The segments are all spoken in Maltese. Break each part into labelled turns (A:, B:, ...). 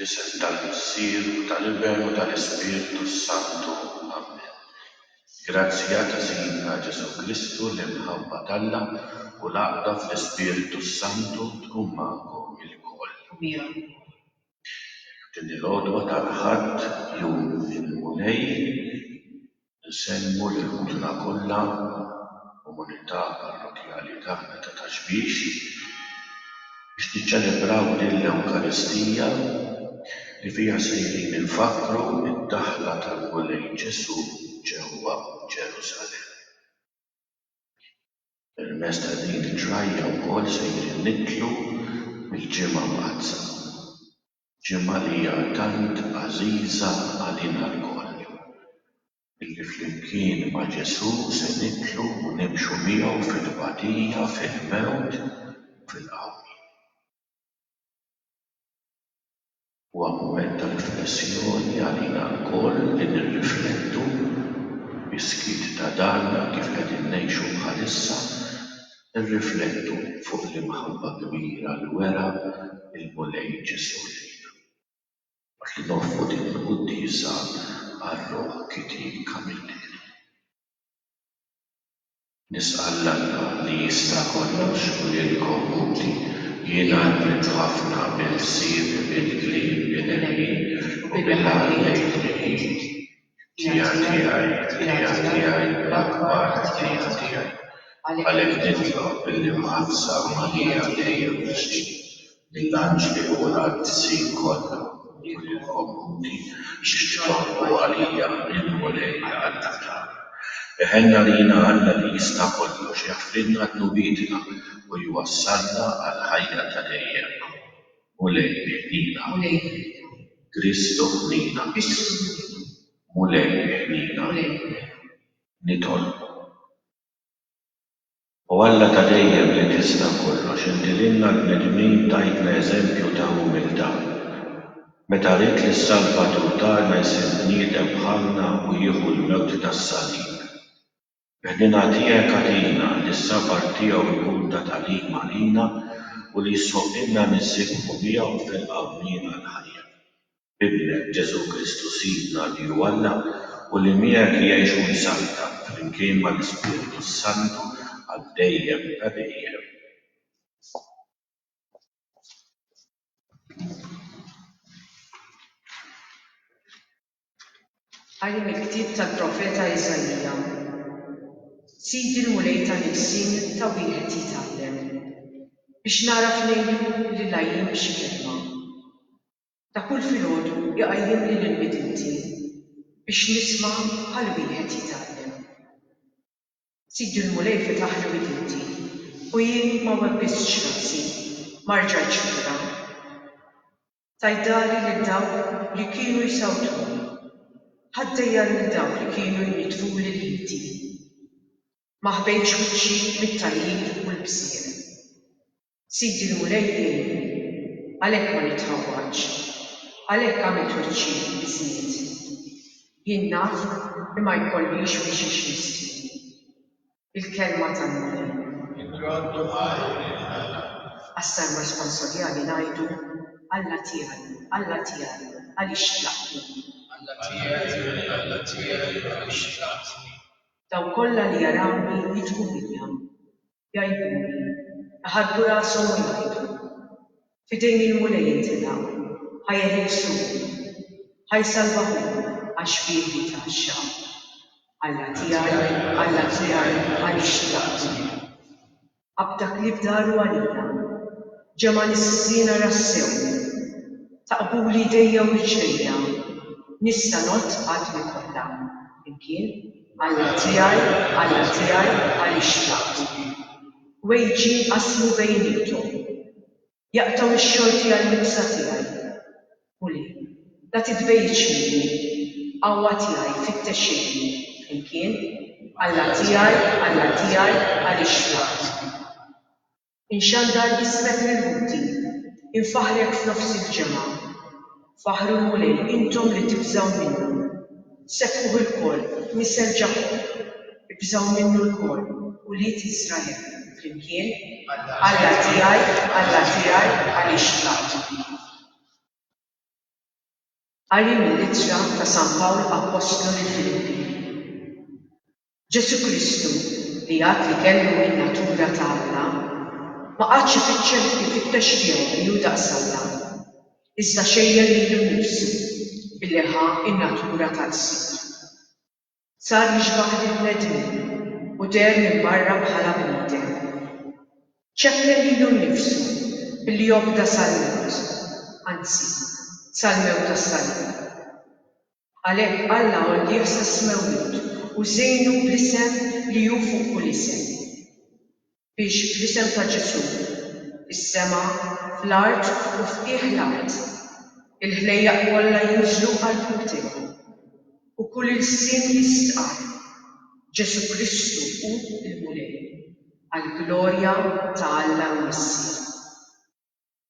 A: Fl-isem tal-Missier u tal-Iben u tal-Ispirtu s-Santu, amen. Il-grazzja ta' Sidna Ġesù Kristu, l-imħabba t'Alla u l-għaqda fl-Ispirtu s-Santu tkun magħkom ilkoll. U miegħek ukoll. F'din il-għodwa tal-Ħadd, jum il-Mulej, Insellmu lill-ħutna kollha, komunità parrokkjali tagħna ta' Ta' Xbiex, biex niċċelebraw din l-Ewkaristija li fiha sejrin infakkru d-daħla tal-Mulej Ġesù ġewwa Ġerusalemm. Permezz ta' din it-trajja wkoll sejrin nidħlu fil-Ġimgħa Mqaddsa. ġimgħa li hija tant għażiża għalina lkoll, illi flimkien ma' Ġesù se nidħlu u nimxu miegħu fit-tbatija, fil-mewt u fil-qawmien. Huwa mument ta' riflessjoni għalina lkoll li nirriflettu, bis-skiet ta' darna, kif qegħdin ngħixu bħalissa. Irriflettu fuq l-imħabba kbira li wera l-Mulej Ġesù lejna, waqt li noffru din il-quddiesa għar-ruħ kitien Camilleri. Nisqal l-Alla li jista' kollox u lilkom ħuti, jiena rbiħt ħafna bil-ħsieb, bil-kliem, bil-għemil u bil-għaqal lejn il-ħin. Tqija tiegħi, tqija tiegħi, l-akbar tqija tiegħi. Għalhekk nitlob billi mħallsa Marija dejjem f'wiċċi, lill-anġli u l-qaddisin kollha u lil il-komuni biex jitolbu għalija lill-Mulej Alla-Tana. Eħen għalina Alla li jista' kollox jaħfrilna dnubietna u jwassalna għall-ħajja ta' dejjem. Mulej iħnina. Mulej iħnina. Kristu ħnina. Kristu ħnina. Mulej iħnina. Mulej iħnina. Nitolbu. O Alla ta' dejjem li tista' kollox, inti lilna l-bnedmin tajtna eżempju ta' umiltà. Meta ridt li s-Salvatur tagħna jsir bniedem bħalna u jieħu l-mewt tas-salib. Ħdina tiegħek agħtina li s-sabar tiegħu jkun ta' tagħlim għalina u li jisħoqqilna nissiebħu miegħu f'ilqa' mliena l-ħajja. B'Ibnek, Ġesù Kristu Sidna li hu Alla u li miegħek jgħix u jsaltan flimkien mal-Ispirtu s-Santu għal dejjem ta' dejjem. Qari mill-ktieb tal-profeta Iżaija, Sidi l-Mulej ta' Nisien ta' wieħed jitgħallem, biex nagħraf ngħidu li l-għajjiem b'xi kelma. Ta' kull filgħodu jqajjimni lill-midinti, biex nisma' bħal wieħed jitgħallem. Sidi l-Mulej fetaħli widinti, u jien ma webbistx rasi, ma rġajtx lura. Tgħid dari lil dawk li kienu jsawtuni, ħaddejja lil dawk li kienu jniddfuli l-iti. Ma ħbejtx wiċċi mit-tajjib u l-bżieq. Sidi l-Mulej jgħinni, għalhekk ma nitħawwadx, għalhekk għamilt wiċċi biż-żnied. Jien naf li ma jkollix minn xiex nistri. Il-Kelma tal-Mulej. Inroddu ħajr il-ħela. Għas-Salwa Sponsorjali ngħidu, Alla tiegħi, Alla tiegħi, għaliex xtlaqqtni? Alla tiegħi, Alla tiegħi, għaliex xtlaqqtni? Dawk kollha li jarawni jidħku fija, jgħiduli, iħaddu rashom u jgħidu, F'idejn il-Mulej jintilaq. Ħa jeħles ruħu. Ħa jsalva hu, għax bih jitgħaxxa. Alla tiegħi, Alla tiegħi, għaliex tlaqtni? Qabda klieb daru għalija. Ġemgħa lis-siżina rassew. Taqbuli jdejja u riġlejja. Nista' ngħodd għadmi kollha. Flimkien, Alla tiegħi, Alla tiegħi, għaliex tlaqtni? Wejġi jinqasmu bejniethom. Jaqtgħu x-xorti għall-ilbsa tiegħi. Ħuli, la titbegħidx minni. Qawwa tiegħi, fittex ilni. Flimkien, Alla tiegħi, Alla tiegħi, għaliex tlaqtni? Inxandar ismek mill-ħuti. Infaħħrek f'nofs il-ġemgħa. Faħħru l-Mulej, intom li tibżgħu minnu. Sebbħuh ilkoll, nisel Ġakòb. Ibżgħu minnu lkoll, ulied Iżrael. Flimkien, Alla tiegħi, Alla tiegħi, għaliex tlaqtni? Qari mill-Ittra ta' San Pawl Appostlu lill-Filippi. Ġesù Kristu, li għad li kellu n-natura ta' Alla, ma qagħadx ifiċċel ifittex tiegħu li hu daqs Alla, iżda xejjer lilu nnifsu billi ħa n-natura ta' qsir. Sar jixbah lill-bnedmin u deher minn barra bħala bniedem. Ċekken lilu nnifsu billi obda sal-mewt, anzi, sal-mewt tas-salib. Għalhekk Alla għollih sas-smewwiet u żejnu bl-isem li hu fuq kull isem, biex fl-isem ta' Ġesù, fis-sema, fl-art u f'qiegħ l-art, il-ħlejjaq kollha jinżlu għall-qrib tiegħu, u kull ilsien jistqarr, Ġesù Kristu hu l-Mulej, għall-glorja ta' Alla l-Missier.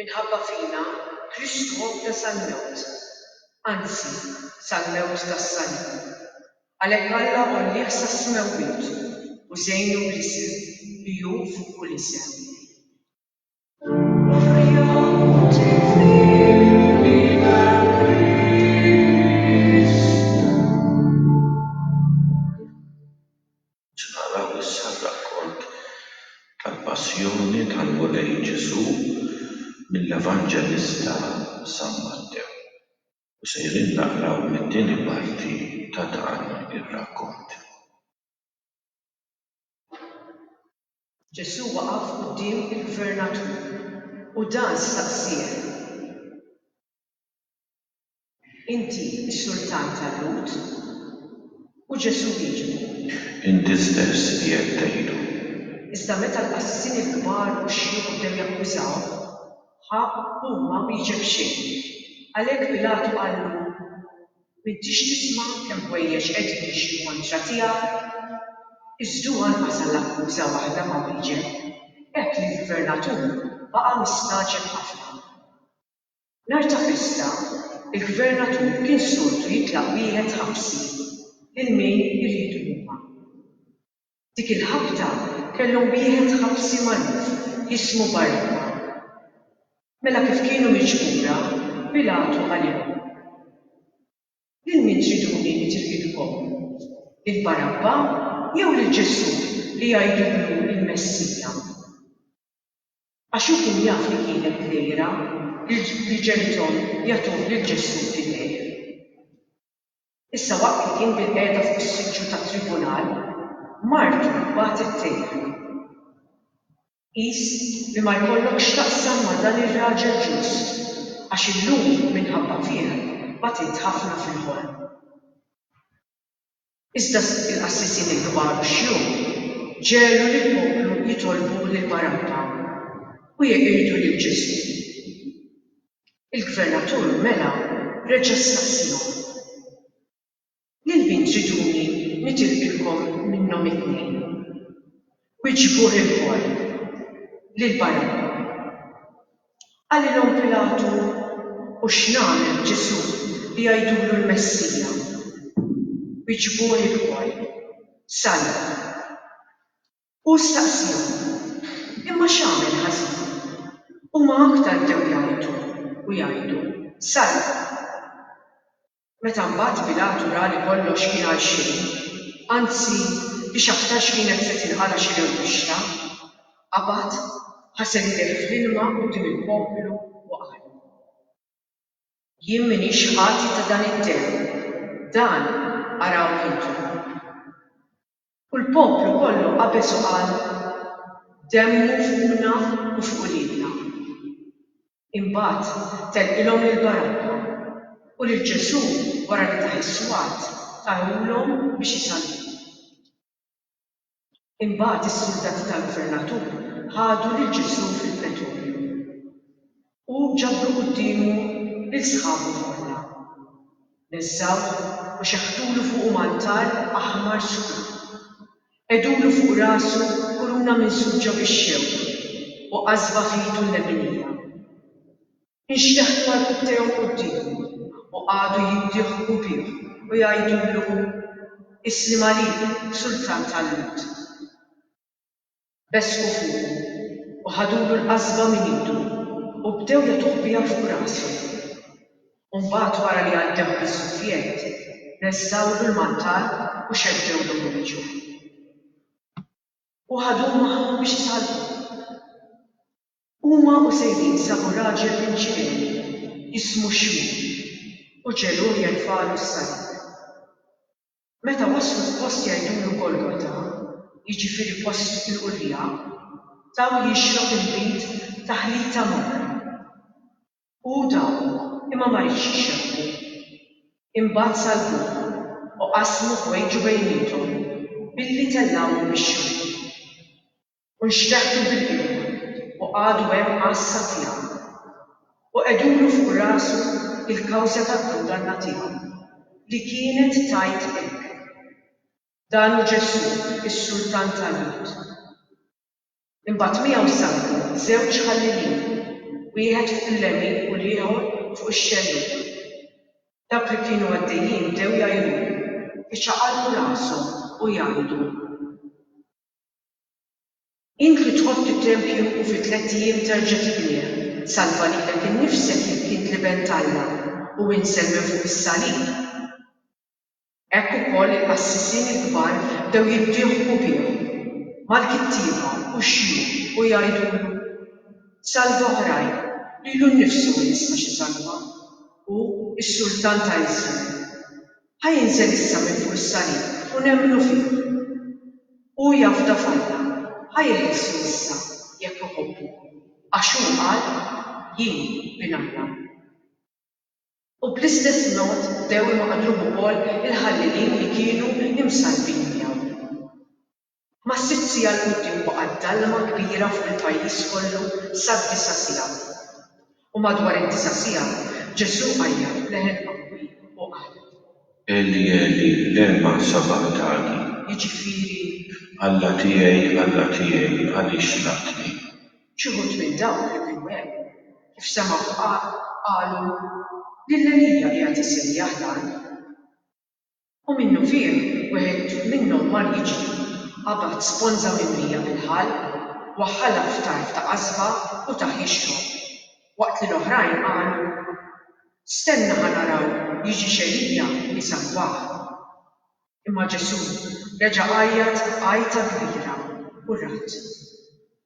A: Minħabba fina, Kristu għobda sal-mewt, anzi, sal-mewt tas-salib. Għalhekk Alla għollieh sas-smewwiet u żejnu bl-isem li hu fuq kull isem. Se naraw issa r-rakkont tal-Passjoni tal-Mulej Ġesù mill-Evanġelista San Mattew u sejrin naqraw mit-tieni parti ta' dan ir-rakkont. Ġesù waqaf quddiem il-gvernatur u dan staqsieh, Inti s-Sultan tal-Lhud? U Ġesù wieġbu. Inti stess qiegħed tgħidu. Iżda meta l-qassisin il-kbar u x-xjuħ bdew jakkużawh, ħa hu ma wieġeb xejn. Għalhekk Pilatu qallu, M'intix tisma' kemm ħwejjeġ qegħdin jixhdu kontra tiegħek? Iżdu anqas għall-akkuża waħda ma wieġeb. Hekk l-gvernatur baqa' mistagħġeb ħafna. Nhar ta' festa, il-Gvernatur kien soltu jitlaq wieħed ħabsi lil min iridu huma. Dik il-ħabta kellhom wieħed ħabsi magħruf jismu Barrabba. Mela kif kienu miġbura, Pilatu qalilhom, Lil min triduni li tirqidkom? Lil Barabba jew lil Ġesù li jgħidulu l-Messija? Għax hu kien jaf li kienet dnejra, li ġenithom jagħtuh lil Ġesù f'idejh. Issa waqt li kien bilqiegħda fuq is-siġġu tat-tribunal, martu bagħtet tgħidlu, Qis li ma jkollok x'taqsam ma' dan ir-raġel ġust, għax illum minħabba fih bagħtiet ħafna fil-ħolm. Iżda l-qassisin il-kbar u x-xjuħ ġegħlu lill-poplu jitolbu lil Barabba u jeqirdu lil Ġesù. Il-gvernatur mela reġa' staqsiehom, Lil min triduni nitilqilkom minnhom it-tnejn? Wieġbu ħilkom lil Barabba. Qalilhom Pilatu, U x'nagħmel b'Ġesù li jgħidulu l-Messija? Wieġbu ħilkom, Salva. Hu staqsihom, Imma x'għamel ħażin? Huma aktar bdew jgħajtu u jgħidu, Salva! Meta mbagħad Pilatu ra li kollox kien għal xejn, anzi li x'aktarx kienet se tinqala' xi rewwixta, qabad, ħasel idejh fl-ilma quddiem il-poplu u qalhom, Jien m'iniex ħati ta' dan id-demm, dan arawh intom. U l-poplu kollu qabeż u qal, Demmu fuqna u fuq uliedna. Imbagħad tellqilhom lil Barabba, u lil Ġesù wara li tah is-swat tahulhom biex isalluh. Imbagħad is-suldati tal-gvernatur ħadu lil Ġesù fil-pretorju, u ġabru quddiemu lil sħabu kollha. Neżżgħuh u xeħtulu fuqu mantall aħmar skur. Qegħdulu fuq rasu kuruna minsuġġa bix-xewk u qasba f'idu l-leminija. Inxteħtu għarkup tiegħu quddiemu u qagħdu jiddiħħku bih u jgħidulu, Isliem għalik, Sultan tal-Lhud! Besqu fuqu u ħadulu l-qasba minn idu u bdew jagħtuh biha fuq rasu. u mbagħad wara li għaddew bis-sufjett, reżżgħulu l-mantal u xeddewlu minn wiċċu. U ħaduh magħhom biex isalvu. Huma u sejrin sabu raġel minn Ċirene jismu Xmun u ġegħluh jerfagħlu s-salib. Meta waslu f'post jgħidulu Golgota, jiġifieri Post il-Qurrieqa, taw jixrob il-bid ta' ħlita morra. U hu dahom, imma ma riedx ixebbhu. Imbagħad salbuh, u qasmu ħwejġu bejniethom, billi tellgħuhom bix-xorti. U nxteħt il-bilqieq, u qagħdu hemm għassa tiegħu. U qegħdulu fuq rasu l-kawża tad-dunganna tiegħu, li kienet tgħid hekk, Dan hu Ġesù, is-Sultan tal-Lhud. Imbagħad miegħu saqtu żewġ ħallilin, wieħed fuq il-lemin u l-ieħor fuq ix-xellug. Dawk li kienu għaddejjin bdew jgħajjulu, iċaqalqu rashom u jgħidu. Int li tħobb it-tempju u fi tlett ijiem terġa' tibnieh, salva lilek innifsek jekk int l-Iben t'Alla, u insel minn fuq is-salib! Hekk ukoll il-qassisin il-kbar bdew jiddieħqu bih, mal-kittieba u x-xjuħ u jgħidulu, Salva oħrajn, lilu nnifsu min jisma' xi talba! Hu s-Sultan ta' Iżrael. Ħa jinżel issa minn fuq is-salib u nemmnu fih. Hu jafda f'Alla, ħa jilħissu issa jekk iħobbu, għax hu qal, Jien bin Alla. U bl-istess mod bdew imaqdru wkoll il-ħallelin li kienu imsallbin miegħu. Mas-sitt siegħa 'l quddiem baqgħet dalma kbira fuq il-pajjiż kollu sad-disa' siegħa. U madwar id-disa' siegħa, Ġesù għajjat b'leħen qawwi u qal. Eli, Eli, lema sabagħtani? Jiġifieri. Alla tiegħi, Alla tiegħi, għaliex xlaqtni? Xi wħud minn dawk li kienu hemm, kif semgħu tqal, qalu, Lil Elija qiegħed isejjaħ dan. U minnufih wieħed minnhom mar jiġri, qabad sponża mimlija bil-ħall, waħħalha f'tarf ta' qasba u tah jixrob, waqt li l-oħrajn qalu, Stenna ħa naraw jiġix Elija jsalvah. Imma Ġesù reġa' għajjat għajta kbira u rad.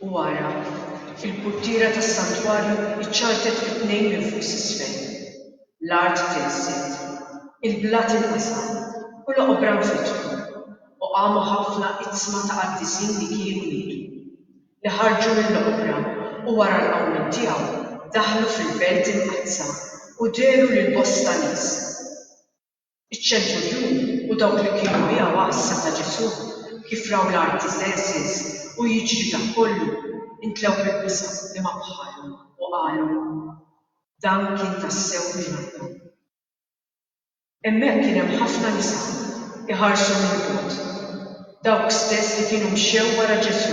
A: U ara, fil-purtiera tas-santwarju ċċartet fi tnejn minn fuq s'isfel, l-art tinżgħet, il-blat inqasam, u l-oqbra nfetħu, u qamu ħafna iqsma ta' qaddisin li kienu mietu, li ħarġu mill-oqbra, u wara l-qawmien tiegħu daħlu fil-belt imqaddsa u dehru lil bosta nies. Iċ-ċenturjun u dawk li kienu miegħu għassa ta' Ġesù, kif raw l-arti Xerxes u jiġri dak kollu, intlew bil-biża' li ma bħalhom u qalu, Dan kien tassew minn Alla. Hemmhekk kien hemm ħafna nisa jħarsu mill-bogħod, dawk stess li kienu mxew wara Ġesù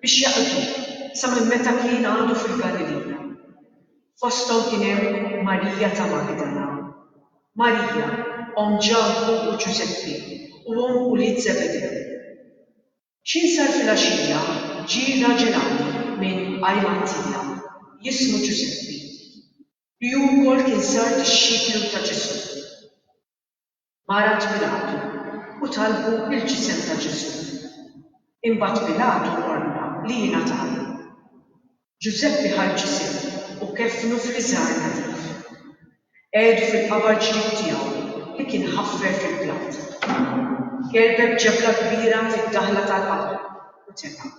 A: biex jaqduh sa minn meta kien għadu fil-Galilija. Fosthom kien hemm Marija ta' Magdala, Marija, omm Ġakbu u Ġużeppi u omm ulied Żebedew. X'jinsar filgħaxija ġie raġel għani minn Ajmantija, jismu Ġużeppi, li hu wkoll kien sar dixxiplu ta' Ġesù. Mara t'Pilatu u talbu l-ġisem ta' Ġesù. Imbagħad Pilatu ordna li jingħatalu. Ġużeppi ħa l-ġisem u keffnu f'riżgħar nadif. Qegħdu fil-qabar ġdid tiegħu li kien ħaffer fil-blat. Kerbeb ġebla kbira fid-daħla tal-qabar u teba'.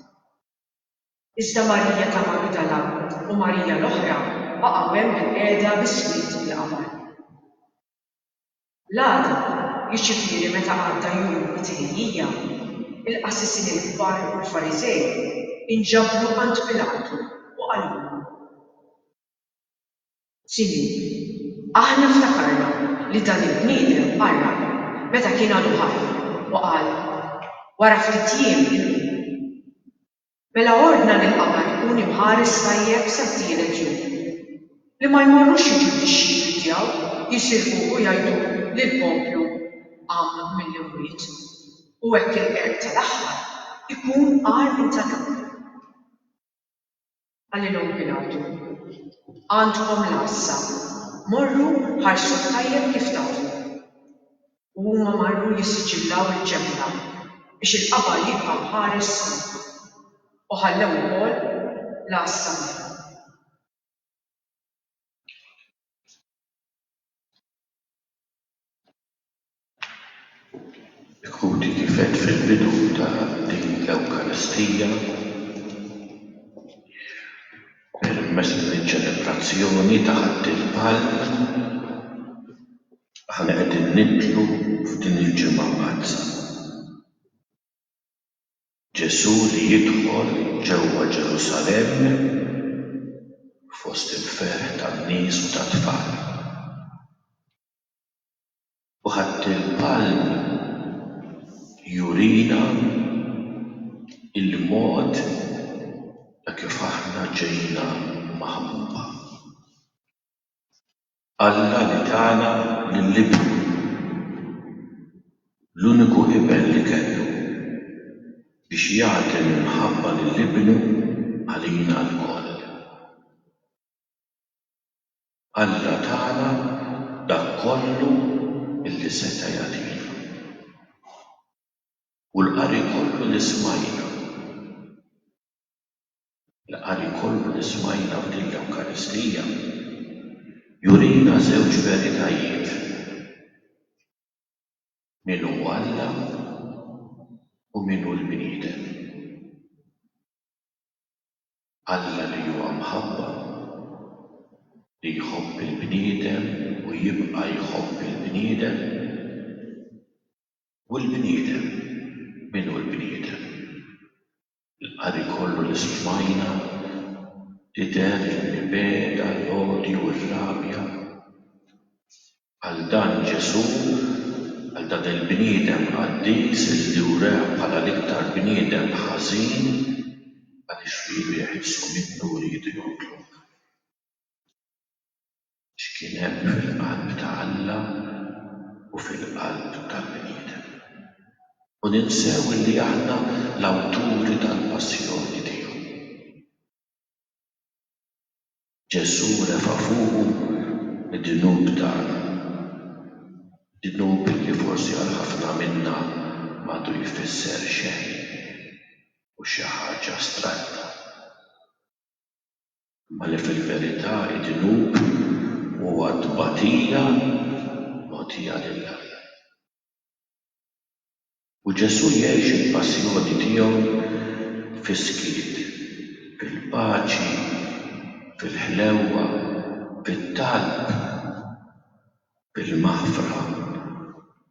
A: Iżda Marija ta' Magdala u Marija l-oħra baqgħu hemm bilqiegħda biswit il-qabar. L-għada, jiġifieri meta għadda jum it-Tnejjija, il-qassisin il-kbar u l-Fariżej inġabru għand Pilatu u qalulu. Sinjur, aħna ftakarna li dan il-bniedem qarraq meta kien għadu ħaj u qal, 'Wara ftit jiem inqum. Mela ordna li l-qamar ikun imħares tajjeb sat-tielet jum. Li ma jmorrux jiġu d-dixxipli tiegħu jisirquh u jgħidulu li l-poplu qam mill-imwiet, u hekk il-qerq tal-aħħar ikun agħar minn tal-ewwel. Qalilhom Pilatu, Għandkom l-għassa, morru ħarsuh tajjeb kif tafu. U huma marru jissiġillaw il-ċempla biex il-qabar jibqa' mħares sew. U ħallew ukoll l-għassa magħhom. Ikun kif għedt fil-bidu ta' din l-Ewkaristija, permezz din iċ-ċelebrazzjoni ta' Ħadd il-Palm, aħna qegħdin nidħlu f'din il-Ġimgħa Mqaddsa. Ġesù li jidħol ġewwa Ġerusalemm fost il-ferħ tan-nies u tat-tfal. U ħadd il-palm jurina l-mod ta' kif aħna ġejna maħbuba. Alla li tana lil Ibnu, l-uniku Iben li kellu, biex jagħti l-imħabba lil Ibnu għalina lkoll. Alla tana dak kollu li seta' jagħtina. U l-qari kollu li smajna, l-qari kollu li smajna f'din l-Ewkaristija jurina żewġ veritajiet, min hu Alla u min hu l-bniedem. Alla li huwa mħabba, li jħobb il-bniedem u jibqa' jħobb il-bniedem. U l-bniedem, min hu l-bniedem? Il-qari kollu li smajna tidher li beda l-għodju u r-rabja. Għal dan Ġesù, għal dan il-bniedem qaddis li wrah bħala l-iktar bniedem ħażin għaliex fih bih isu minnu riedu jonqlok. X'kien hemm fil-qalb ta' Alla u fil-qalb tal-bniedem. U ninsew li aħna l-awturi tal-passjoni tiegħu. Ġesù refa' fuqu d-dnub tagħna, dnub li forsi għal ħafna minna m'għadu jfisser xejn u xi ħaġa astratta, imma li fil-verità d-dnub huwa tbatija mogħtija lil Alla. U Ġesù jgħix il-Passjoni tiegħu fis-skiet, fil-paċi, fil-ħlewwa, fit-talb, bil-maħfra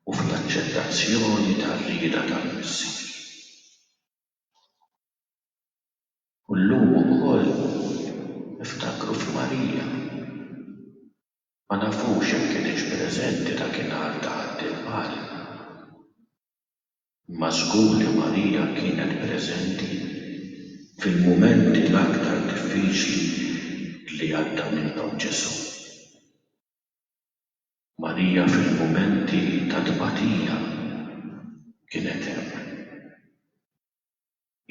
A: u fl-aċċettazzjoni tar-rieda tal-Missier. U llum ukoll niftakru f'Marija. Ma nafux jekk kinitx preżenti dakinhar taħt il-ball, imma żgur li Marija kienet preżenti fil-mumenti l-aktar diffiċli li għadda minnhom Ġesù. Marija fil-mumenti ta' tbatija kienet hemm.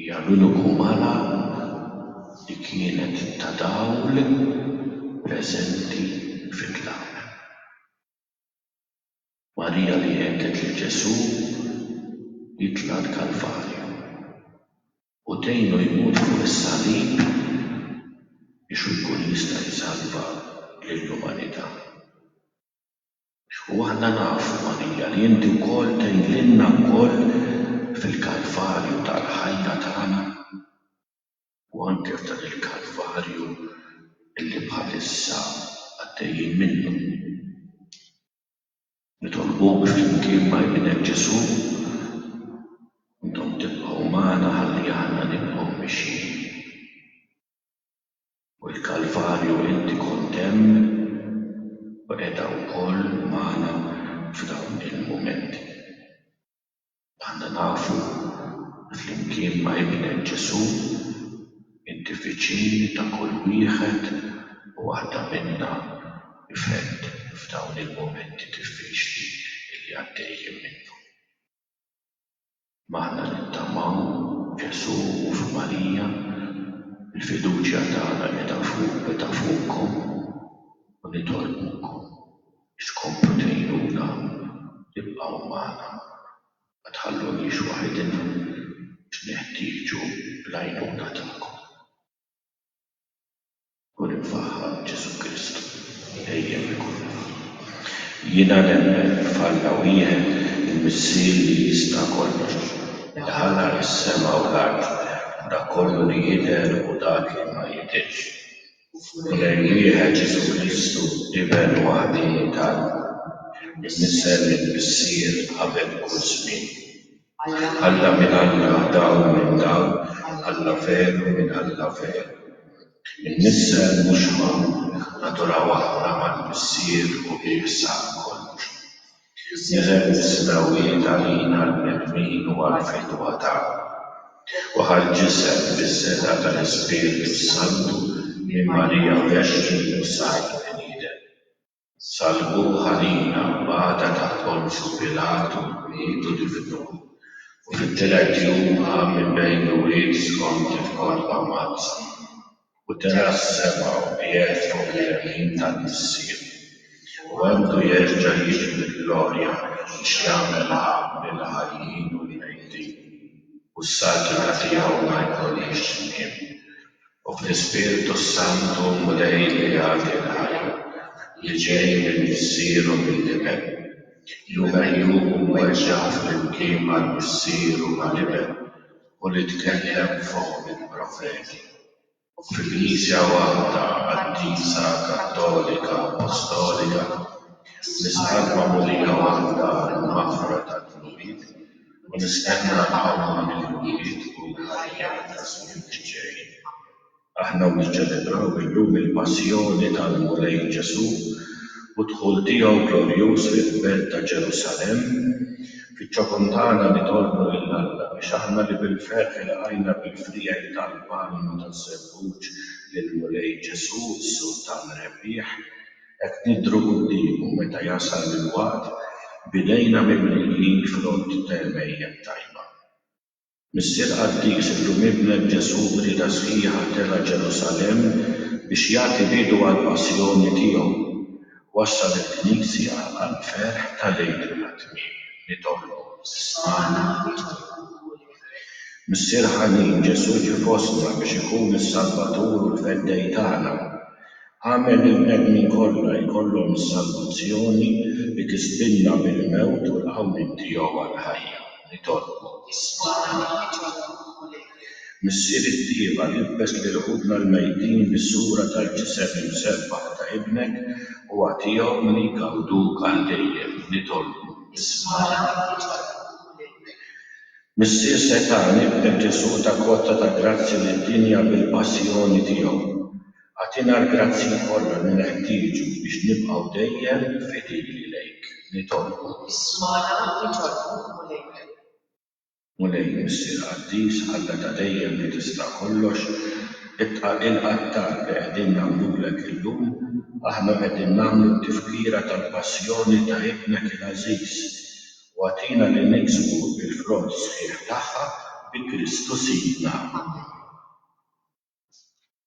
A: Jagħmilu kumara li kienet ta' dawl preżenti fit-tlaq. Marija li għedded lil Ġesù jitla' l-Kalvarju u tgħinu jmut fuq is-salib biex hu jkun jista' jsalva lill-umanità. U aħna nafu, Marija, li inti wkoll tgħidlilna wkoll fil-Kalvarju tal-ħajja tagħna u anke f'dan il-Kalvarju li bħalissa għaddejjin minnu. Nitolbuk flimkien ma' Ibnek Ġesù, intom tibqgħu magħna ħalli aħna nibqgħu mixjin. U l-Kalvarju inti kont hemm u qiegħda wkoll magħna f'dawn il-mumenti. Aħna nafu li flimkien ma' Ibnek Ġesù inti viċin ta' kull wieħed u waħda minna f'hedd f'dawn il-mumenti diffiċli li għaddejjin minnhom. M'aħna nittamaw f'Ġesù u f'Marija, il-fiduċja tagħna qiegħda fuq qiegħda fuqkom u nitolbukom biex tkomplu tgħinuna tibqgħu magħna, ma tħalluniex waħidna għax neħtieġu l-għajnuna tagħkom. Kun imfaħħar Ġesù Kristu dejjem ikun hemm. Jiena nemmen f'Alla wieħed il-Missier li jista' kollox, li ħalaq is-sema u l-art u dak kollu li jidher u dak li ma jidhirx, u f'Mulej wieħed Ġesù Kristu, Iben waħdieni t'Alla, imnissel mill-Missier qabel kull żmien. Alla minn Alla dawl minn dawl Alla veru minn Alla veru Imnissel mhux magħqul naduraw aħna mal-Missier u Hi sab kollox Niżel mis-smewwiet għalina l-bnedmin u għall-fidwa tagħna u ħa l-ġisem bis-setgħa tal-Ispirtu s-Santu minn Marija Verġni u sar bniedem. Salvuh għalina u bata taħt Ponzju Pilatu miet u difnuh, u fit-tielet jum qam minn bejn l-mwiet skont kif kont mammazzan, u tela' s-sema u qiegħed fuq il-jemin tal-Missier, u għandu jerġa' jiġi bi glorja biex jagħmel għaqd lill-ħajjin u l-mejtin, u s-saltna tiegħu ma jkollhiex tmiem. u fl-Ispirtu s-Santu Mulej li jagħti l-ħajja, li ġej minn Missieru mill-Iben, li hu megħjub u mweġġa' flimkien mal-Missier u mal-Iben, u li tkellem b'fomm il-profeti, u fil-Knisja waħda qaddisa kattolika appostolika, nisħaq b'magħmudija waħda għall-maħfra tad-dnubiet, u nistenna l-ħajja ta' mill-ġdid u l-ħajja ta' żmien li ġej. Aħna niċċelebraw illum il-Passjoni tal-Mulej Ġesù u d-dħul tiegħu glorjuż fil-Belt ta' Ġerusalemm. Fiċ-ċokon tagħna nitolbu lil Alla biex aħna li bil-ferħ ilqajna bil-friegħi tal-palm u taż-żebbuġ lill-Mulej Ġesù, s-Sultan Rebbieħ, Qed nidhru quddiemu meta jasal il-waqt b'idejna mimlijin frott t'għemejjel tajba. Missier Qaddis illum Ibnek Ġesù b'rieda sħiħa tela' Ġerusalemm biex jagħti bidu għall-Passjoni tiegħu. Wassal il-Knisja għall-ferħ ta' l-Għid tat-Tmiem. Nitolbu, ismagħna Ġesù Mulej. Missier ħanin, Ġesù ġie fostna biex ikun is-Salvatur u l-Feddej tagħna. Agħmel li l-bnedmin kollha jkollhom is-salvazzjoni li tiżbillna mill-mewt u l-qawmien tiegħu għall-ħajja. Nitolbu. Isma' għanejn Ġeħova Mulej. Missier it-tjieba, libbes lil ħutna l-mejtin bis-sura tal-ġisem imsebbaħ ta' Ibnek u agħtihom li jgawduk għal dejjem. Nitolbu. Isma' għanejn Ġeħova Mulej. Missier setgħan, ibnek Ġesù ta kotta ta' grazzja lid-dinja bil-passjoni tiegħu. Agħtina l-grazzji kollha li neħtieġu biex nibqgħu dejjem fidili lejk, nitolbu. Ismagħna, nitolbu, Mulejna. Mulej, Missier Qaddis, Alla ta' dejjem li tista' kollox, ibqa' il-qattar li qegħdin nagħmlulek illum, aħna qegħdin nagħmlu t-tifkira tal-Passjoni ta' Ibnek il-għażiż, u agħtina li niksbu l-frott sħiħ tagħha bi Kristu Sidna. Amen.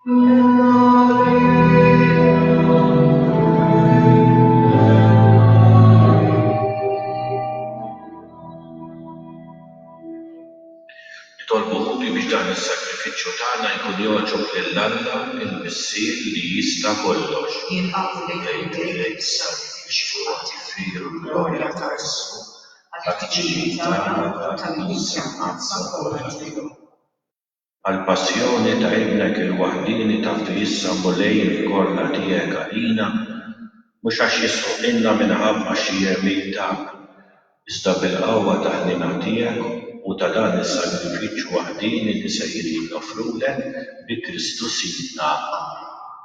A: Nitolbu wkoll biex dan is-sagrifiċċju tagħna jkun jogħġob lil Alla, il-Missier li jista' kollox. Jinqagħdu lejk u lejn is-sagrifiċċju jagħti veru l-glorja ta' ismu, għall-ħtiġijiet tagħna u tal-Knisja Mqaddsa kollha tiegħu. għall-passjoni ta' Ibnek il-waħdieni tafdu issa Mulej il-korna tiegħek għalina, mhux għax jisħoqilna minħabba xi għemil tagħna, iżda bil-qawwa tal-ħniena tiegħek u ta' dan is-sagrifiċċju waħdieni li sejrin noffrulek bi Kristu Sidna. Amen.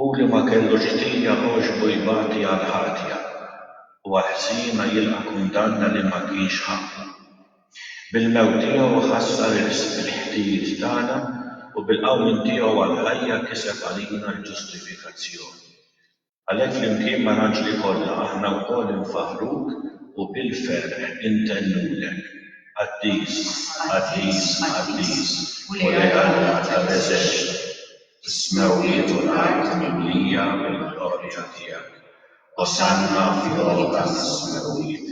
A: Hu li ma kellux ħtija għoxbu jbati għall-ħatja u għall-ħżiena jilqa' kundanna li ma kienx ħaqqu. Bil-mewt tiegħu ħassar irsq il-ħtijiet tagħna u bil-qawmien tiegħu għall-ħajja kiseb għalina l-ġustifikazzjoni. Għalhekk flimkien mal-anġli kollha aħna wkoll infaħħruk u bil-ferħ intennulek, Qaddis, qaddis, qaddis, Mulej Alla tal-eżerċti! Is-smewwiet u l-art mimlija mill-glorja tiegħek. Osanna fl-għoli tas-smewwiet.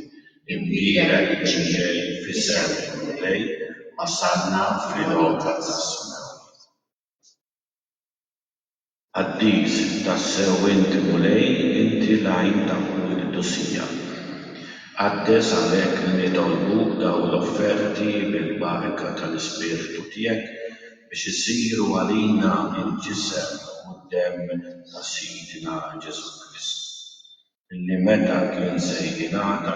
A: Imbierek min ġej f'isem il-Mulej, osanna fl-għota tas-smewwiet. Qaddis, tassew inti Mulej, inti l-għajn ta' kull qdusija. Qaddes għalhekk li nitolbuk dawn l-offerti bil-barka tal-Ispirtu tiegħek, biex isiru għalina l-ġisem u d-demm ta' Sidna Ġesù Kristu, li meta kien se jingħata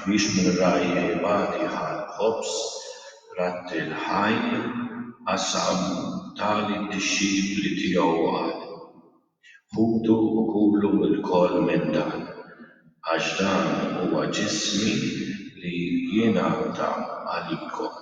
A: biex minn ragħaj ibati ħa l-ħobż, ratti l-ħaj, qasam, ta lid-dixxipli tiegħu u qal, Ħudu u kulu lkoll minn dan, għax dan huwa ġismi li jingħata għalikom.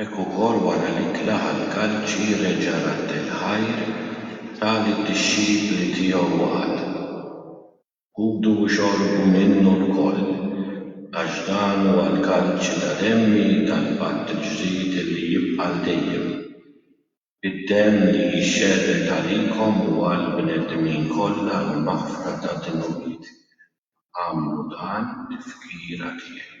A: Hekk ukoll wara li tlaħaq l-kalċi reġa' radd il-ħajr ta' lid-dixxipli tiegħu u qal, Kulu u xorbu minnu lkoll, għax dan huwa l-kalċi ta' demmi tal-patt il-ġdid li jibqa' għal dejjem. Bid-demm li jixxerred għalikom u għall-bnedmin kollha għall-maħfra tad-dnubiet, agħmlu dan tifkira tiegħi.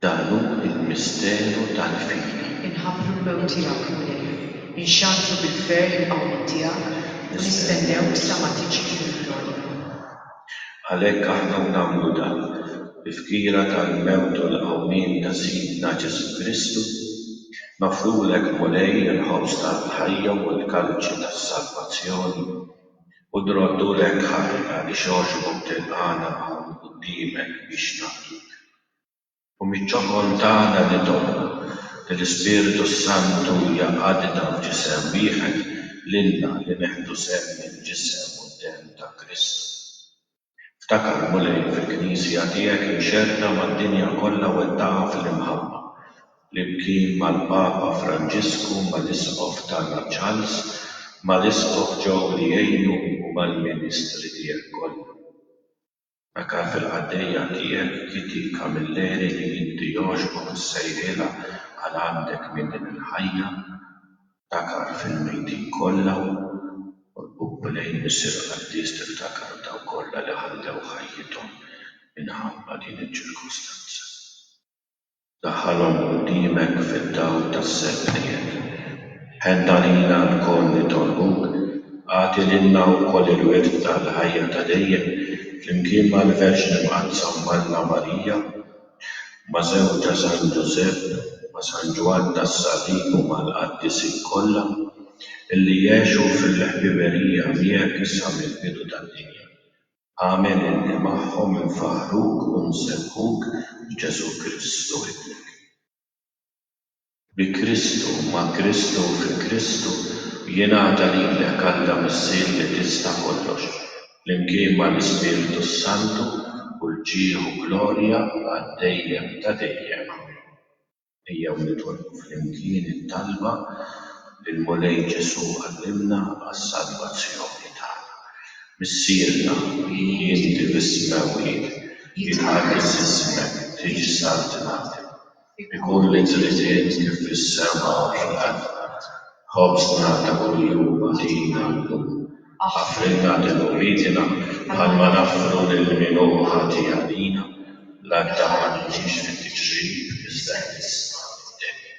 A: Dan hu l-misteru tal-fidi. Inħabbru l-mewt tiegħek, Mulej. Inxandru bil-ferħ il-qawmien tiegħek, u nistennewk sa ma tiġi fil-glorja. Għalhekk aħna nagħmlu dan, bi fkira tal-mewt u l-qawmien ta' Sidna Ġesù Kristu, noffrulek, Mulej, il-ħobż tal-ħajja u l-kalċi tas-salvazzjoni, u nroddulek ħajr għaliex għoxbok tilqagħna hawn quddiemek biex naqduk. U miċ-ċokon tagħna nitolbu li l-Ispirtu s-Santu jgħaqqadna f'ġisem wieħed lilna li neħdu sehem mill-ġisem u d-demm ta' Kristu. Ftakar, Mulej, fil-Knisja tiegħek imxerrda mad-dinja kollha wettaqha fl-imħabba, flimkien mal-Papa Franġisku, mal-Isqof tagħna Charles, mal-Isqof Joe li jgħinu u mal-ministri tiegħek kollha. Aka fil-qaddejja tiegħek Kitty Camilleri li inti jogħġbok issejħilha għal għandek minn din il-ħajja, ftakar fil-mejtin kollha u lejn Missier Qaddis tiftakar f'dawk kollha li ħallew ħajjithom minħabba din iċ-ċirkustanza. Daħħalhom quddiemek fid-dawl tas-serq tiegħek. Ħen għalina lkoll nitolbuk, agħti lilna wkoll il-wirt tal-ħajja ta' dejjem flimkien mal-Verġni Mqaddsa u m'Alla Marija, ma' żewġha San Ġużepp, ma' San Ġwann tas-Salib u mal-qaddisin kollha illi għexu fil-ħbiberija miegħek sa mill-bidu tad-dinja. Agħmel illi magħhom infaħħruk u nsebbħuk b'Ġesù Kristu Ibnek. Bi Kristu, ma' Kristu u fi Kristu, jingħata lilek Alla Missier li tista' kollox, flimkien mal-Ispirtu s-Santu, kull ġieħ u glorja għad-dejjem ta' dejjem. Amen. Ejjew nitolbu flimkien it-talba lill-Mulej Ġesù Għallimna għas-salvazzjoni tagħna. Missierna, li inti bis-smewwiet, jitqaddes ismek, tiġi saltnatek. Ikun li tridiet kif fis-sema u fuq l-art. Ħobżna ta' kuljum agħtina llum. Aħfrilna denubitina bħalma naħfru lil min hu ħati għalina. L-għadda ma niġix fit-tiġrib iżda eħlisna mid-deni.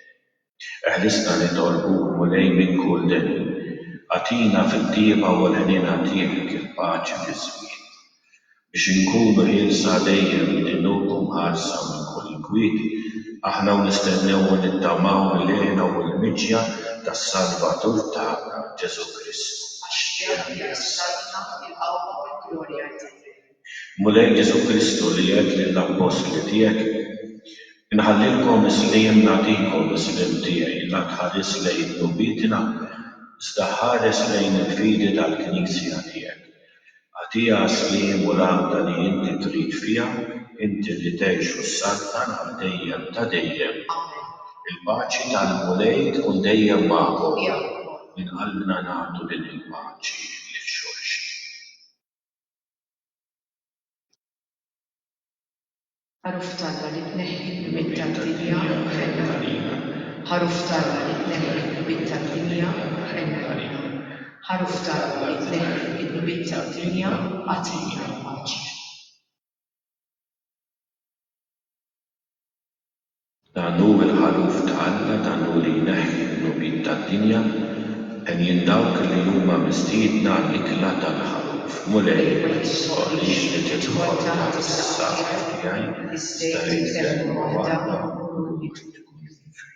A: Eħlisna nitolbuk, Mulej, minn kull deni. Agħtina fit-tjieba u l-ħniena tiegħek il-paċi fiż-żmien Biex inkunu ħielsa dejjem minn għinuk u mħarsa minn kull inkwit, aħna u nistennew u nittamaw mill-għena u l-miġja tas-Salvatur tagħna, Ġesù Kristu. Għax fih hija s-saltna, il-qawwa u l-glorja għal dejjem. Mulej Ġesù Kristu li għedt lill-Appostli tiegħek, Inħallilkom is-sliem nagħtikom, is-sliem tiegħi, la tħares lejn dnubietna, iżda ħares lejn il-fidi tal-Knisja tiegħek, Agħtiha s-sliem u l-għaqda li inti trid fiha, inti li tgħix u ssaltan għal dejjem ta' dejjem. Amen. Il-paċi tal-Mulej tkun dejjem magħkom. Minn qalbna nagħtu din il-paċi lil xulxin. Ħaruf t'Alla li tneħħi l-lmiet tad-dinja, ħenna għalina. Ħaruf t'Alla li tneħħi l-lmiet tad-dinja, ħenna għalina. Ħaruf t'Alla li tneħħi l-lmiet tad-dinja, agħtina l-paċi. Dan hu l-ħaluf ta' Alla, dan hu li jneħħi d-dnubiet tad-dinja. Għenjin dawk li huma mistiedna għall-ikla tal-ħaluf. Mulej, ma tistħoqqlix li tidħol taħt is-saqaf tiegħi, iżda għid kelma waħda u mmut u nkun ħiefer.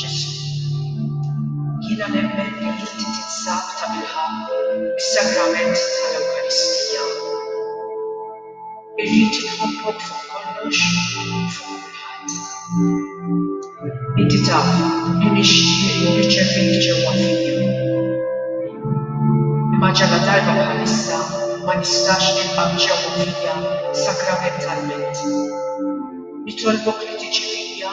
A: Ġesù, jiena nemmen li inti tinsab tabilħaqq fis-Sagrament tal-Ewkaristija. Irrid inħobbok fuq kollox u fuq kulħadd. Inti taf li nixtieq nirċevik ġewwa fija. Imma ġaladarba bħalissa ma nistax nilqgħek ġewwa fija sakramentalment. Nitolbok li tiġi fija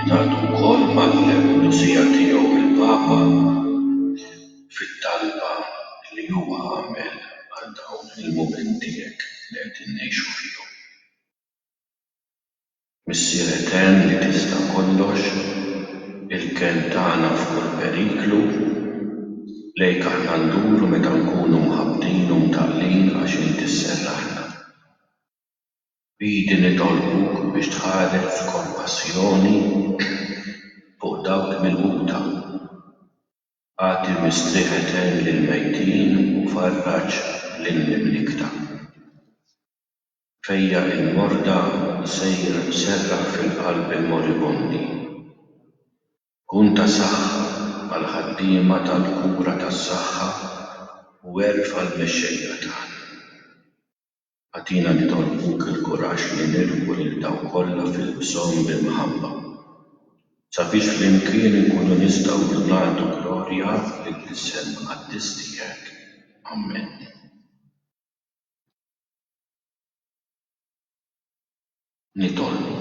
A: Ingħaqad ukoll mal-Missier tiegħu il-Papa fit-talba li huwa għamel għal dawn il-mumenti hekk li qegħdin ngħixu fihom. Missier etern li tista' kollox, il-kenn tagħna f'kull periklu, lejk aħna nduru meta nkunu mħabbtin u mtaqqlin għax int isserraħna. B'idi nitolbuk biex tħares b'kompassjoni fuq dawk milquta. Agħti mistrieħ etern lill-mejtin u farraġ lill-mimlikta. Fejjaq il-morda sejra tserraħ fil-qalb il-moribondi. Kun ta' saħħa għall-ħaddiema tal-kura tas-saħħa u għerf għall-mexxejja tagħna. Agħtina nitolbuk il-kuraġġ li nilħqu lil dawk kollha fil-bżonn b'imħabba, sabiex flimkien inkunu nistgħu ngħaddu glorja lill-Isem Qaddis tiegħek. Amen. Nitolbu.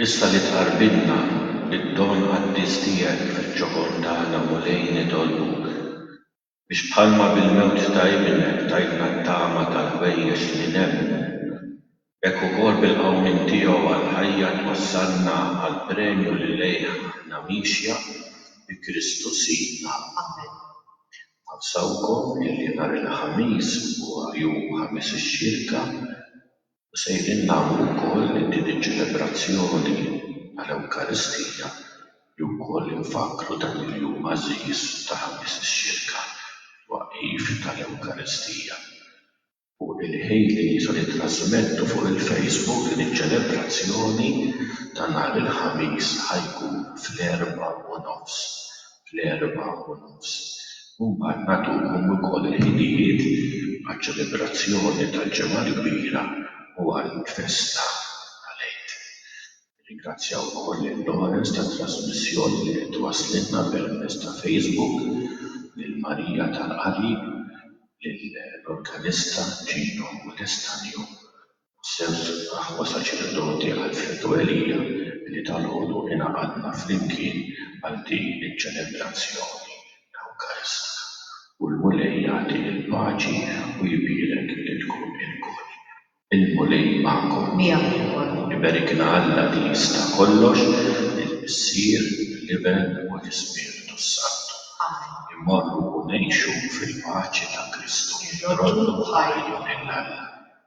A: Issa li tqarbilna bid-don qaddis tiegħek fiċ-ċokon tagħna, Mulej, nitolbuk, Biex bħalma bil-mewt ta' Ibnek tajtna t-tama tal-ħwejjeġ li nemmnu, hekk ukoll bil-qawmien tiegħu għall-ħajja twassalna għall-premju li lejh aħna miexja, bi Kristu Sidna. Amen. Nawsawkom illi nhar il-Ħamis huwa jum Ħamis ix-Xirka. Sejrin nagħmlu wkoll li din iċ-ċelebrazzjoni tal-Ewkaristija hi wkoll infakkru dan il-jum għażiż ta' Ħamis ix-Xirka, it-twaqqif tal-Ewkaristija. U l-ħin li se nittrażmettu fuq il-Facebook din iċ-ċelebrazzjoni ta' nhar il-Ħamis ħa jkun fl-erbgħa u nofs fl-erbgħa u nofs u mbagħad nagħtuhom ukoll il-ħinijiet għaċ-ċelebrazzjoni tal-Ġimgħa l-Kbira u għall-festa tal-Għid. Nirringrazzja wkoll lil Lawrence tat-trażmissjoni li qed twasslilna permezz ta' Facebook, lil Maria tal-qari, lill-organista Gino Welestanio B'sew aħwa saċerdoti Alfredo Elia li dalgħodu ingħaqadna flimkien għal din iċ-ċelebrazzjoni ewkaristika u l-Mulej jagħti l-paċi u jbierek lilkom ilkoll. Il-Mulej magħkom. Miegħek ukoll. Iberikna Alla li jista' kollox, il-Missier, l-Iben u l-Ispirtu s-Santu. Amen. Immorru u ngħixu fil-paċi ta' Kristu. Irroddu ħajr. Ħajr lil Alla.